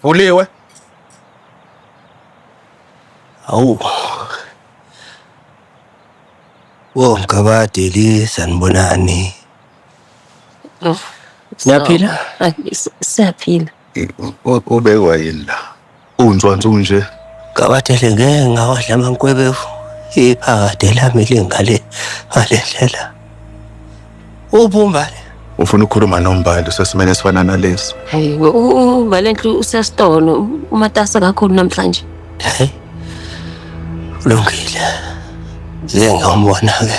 Vuliwe. Awu. Wo mgabade li sanibonani. Oh. Siyaphila? Siyaphila. Ubekwa yini la? Unzwanzu nje. Kabathele ngeke ngawadla amankwebevu iphakade lami lingale ngale ndlela. Ubumbane. Ufuna ukukhuluma nombali usesimene esifana nalesi. Hayi we u- u- Valenhle usesitolo u- umatasa kakhulu namhlanje. Hey. Kulungile. Ngeke ngambona-ke.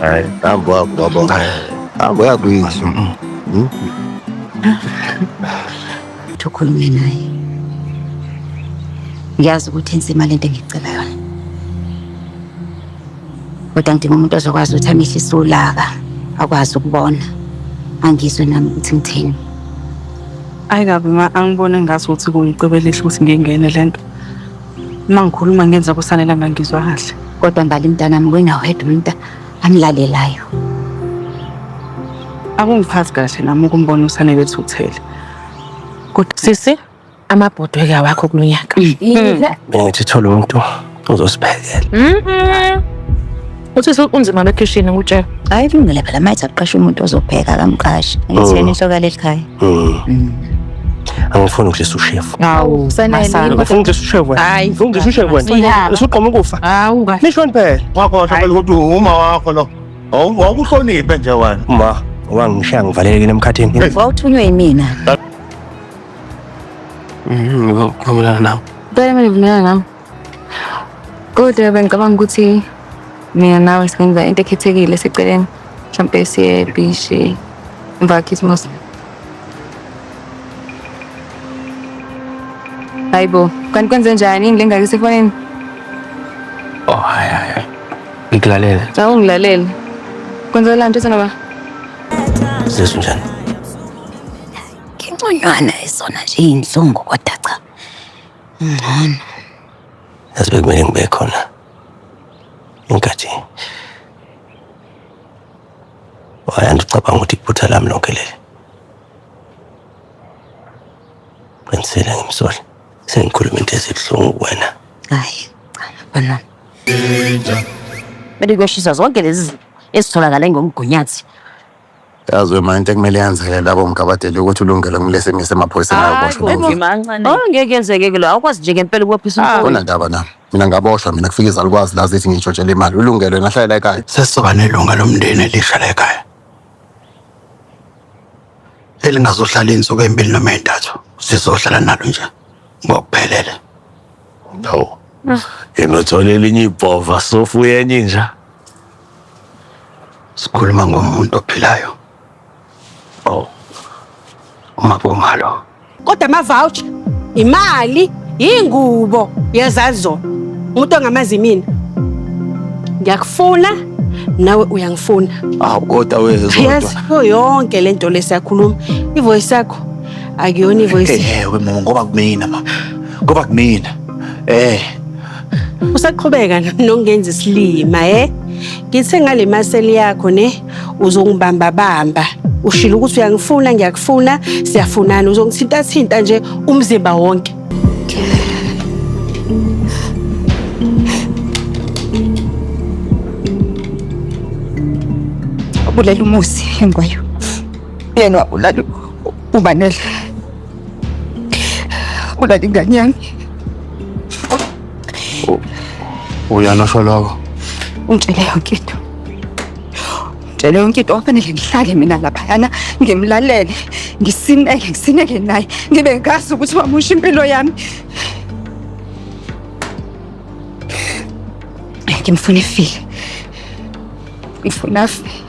Hayi, hamba wakho baba. Hamba yakwizwa. Hmm? Thokhulume naye. Ngiyazi ukuthi insima lento engicela yona. Kodwa ngidinga umuntu ozokwazi ukuthi amehlo isulaka, akwazi ukubona. Angizwe nami ukuthi ngithini. Ayi kabi ma angibone ngathi ukuthi kuyicebo elihle ukuthi ngingene lento. Uma ngikhuluma ngenza kusanela ngangizwa kahle. Kodwa mbali mntanami wena wedwa umuntu amlalelayo. Akungiphathi kahle nami ukumbona usanele ethuthele. Kodwa sisi amabhodwe ke awakho kulonyaka. Mina ngithi thola umuntu ozosiphekela. Mhm. Usisi unzima bekhishini ngutshela. Hayi kulungile phela mayithi akuqashe umuntu ozopheka akamqashi. Ngitheni inhloko yaleli khaya. angifuni ukudlisa ushefu Hawu, Sanele, masana. yini angifuni ukudlisa ushefu wena Hayi, angifuni ukudlisa ushefu wena Siyala. usuqoma ukufa Hawu kahle. nishoni phela Wakhohlwa phela ukuthi uma wakho lo. Awu- Wawuhloniphe nje wena. ma wangishiya ngivalelekile emkhathini Wawuthunywe yimina. ngivumelana nawe Ngicela mina ngivumelana nawe. Kodwa bengicabanga ukuthi mina nawe singenza into ekhethekile seceleni mhlawumpe siye ebhishi emva kakhisimusi hayi bo kanti kwenze njani yini le ngake sefonini oh hayi hayi ngikulalele awu ngilalele kwenzela nto senaba zesu njani nginconywana isona nje iyinhlungu kodwa Ngcono. Yazi bekumele ngibe khona. Inkathi. Wayanda ucabanga ukuthi iphutha lami lonke leli. Qinisile ngimsole. Sengikhuluma into ezibuhlungu kuwena. Hayi, cha, bana. Bese kuyoshiswa zonke lezi ezitholakala ngomgunyathi. Yazi wema into ekumele yenzeke labo mgabadeli ukuthi ulungele kumele simise emaphoyiseni ayoboshwa Hayi, lomfana. mancane. Oh ngeke yenzeke ke lo awukwazi nje ngempela ukubophisa umfowethu. Kunandaba nami. Mina ngaboshwa mina kufika izalukwazi la zithi ngintshontshelwe imali. Ulungele wena hlalela ekhaya. sesizoba nelunga lomndeni elisha lekhaya elingazohlala insuku ezimbili noma ezintathu sizohlala nalo nje ngokuphelele Hawu. Yena uthola elinye ibhova sofuye enye inja. Sikhuluma ngomuntu ophilayo. Oh. Uma bomalo. Kodwa ama voucher, imali, ingubo yezazona. Umuntu ongamazi mina. Ngiyakufuna nawe uyangifuna. Awu kodwa wezwa. Yes, yonke lento lesiyakhuluma. Ivoice yakho akuyona ivoice. Ewe mama ngoba kumina mama. Ngoba kumina. Eh. Usaqhubeka nokungenza isilima eh? Ngithe ngale maseli yakho ne uzongibamba bamba. Ushilo ukuthi uyangifuna ngiyakufuna siyafunana uzongithinta thinta nje umzimba wonke. Ubulela umusi engwayo. Yena wabulala ubanele. Wala din ganyan. Uyano sho lokho. Ungitshele yonke into. Ungitshele yonke into ofanele ngihlale mina laphayana ngimlalele ngisineke ngisineke naye ngibe ngazi ukuthi wamusha impilo yami. Ngimfuna efile. Ngifuna afile.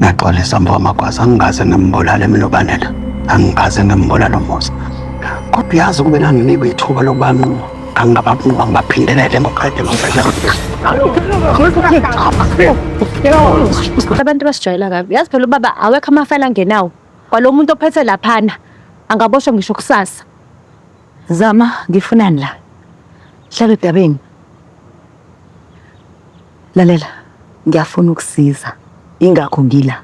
Naxolisa mfo amagwaza angikaze ngimbulale mina ubanela. Angikaze ngimbulale umusa. Kodwa uyazi kube nanginikwe ithuba lokuba nquma. Angababunqa ngibaphindelele ngoqede ngomfela. Abantu basijwayela kabi. Yazi phela ubaba awekho amafayela angenawo. Kwalo muntu ophethe laphana angaboshwa ngisho kusasa. Zama, ngifunani la? Hlala odabeni. Lalela, ngiyafuna ukusiza. Ingakho ngila.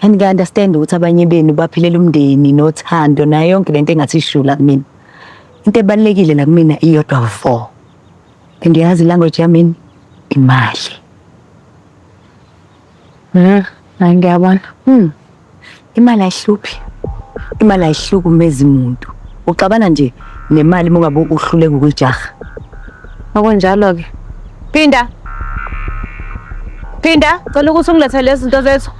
And ngiya understand ukuthi abanye benu baphilela umndeni nothando nayo yonke lento engathi ishula kumina. Into ebalekile la kumina iyodwa vo. And uyazi language yami imali. Mm, hayi ngiyabona. Mm. Imali ayihluphi. Imali ayihlukumezi muntu. Uxabana nje nemali uma ungabe uhluleka ukuyijaha. Okunjalo ke. Phinda. Phinda, cela ukuthi ungilethele lezi zinto zethu.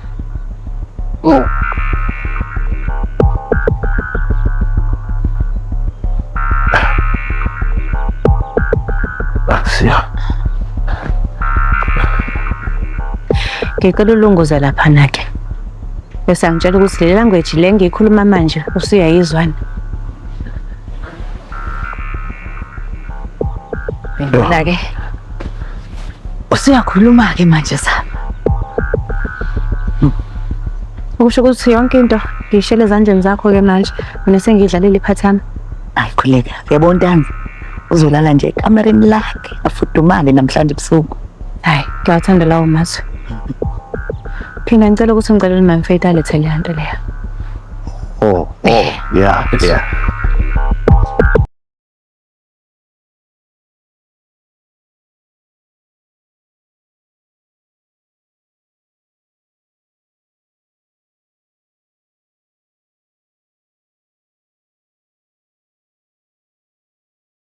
Siya. Ngicela ulunguze lapha nake. Bese angitshela ukuthi le language le ngiyikhuluma manje usuyayizwana. Ngicela ke. Usuyakhuluma ke manje sa. Ukusho ukuthi yonke into ngiyishele ezandleni zakho ke manje mina sengidlalile iphathi yami. Ayikhuleka. Yabona ntanga. Uzolala nje ekamereni lakhe afudumale namhlanje ebusuku. Hayi, ngiyawathanda lawo mazwi. Phina ngicela ukuthi ngicela ukuthi mamfethu alethe leya nto leya. Oh, oh, yeah, yeah.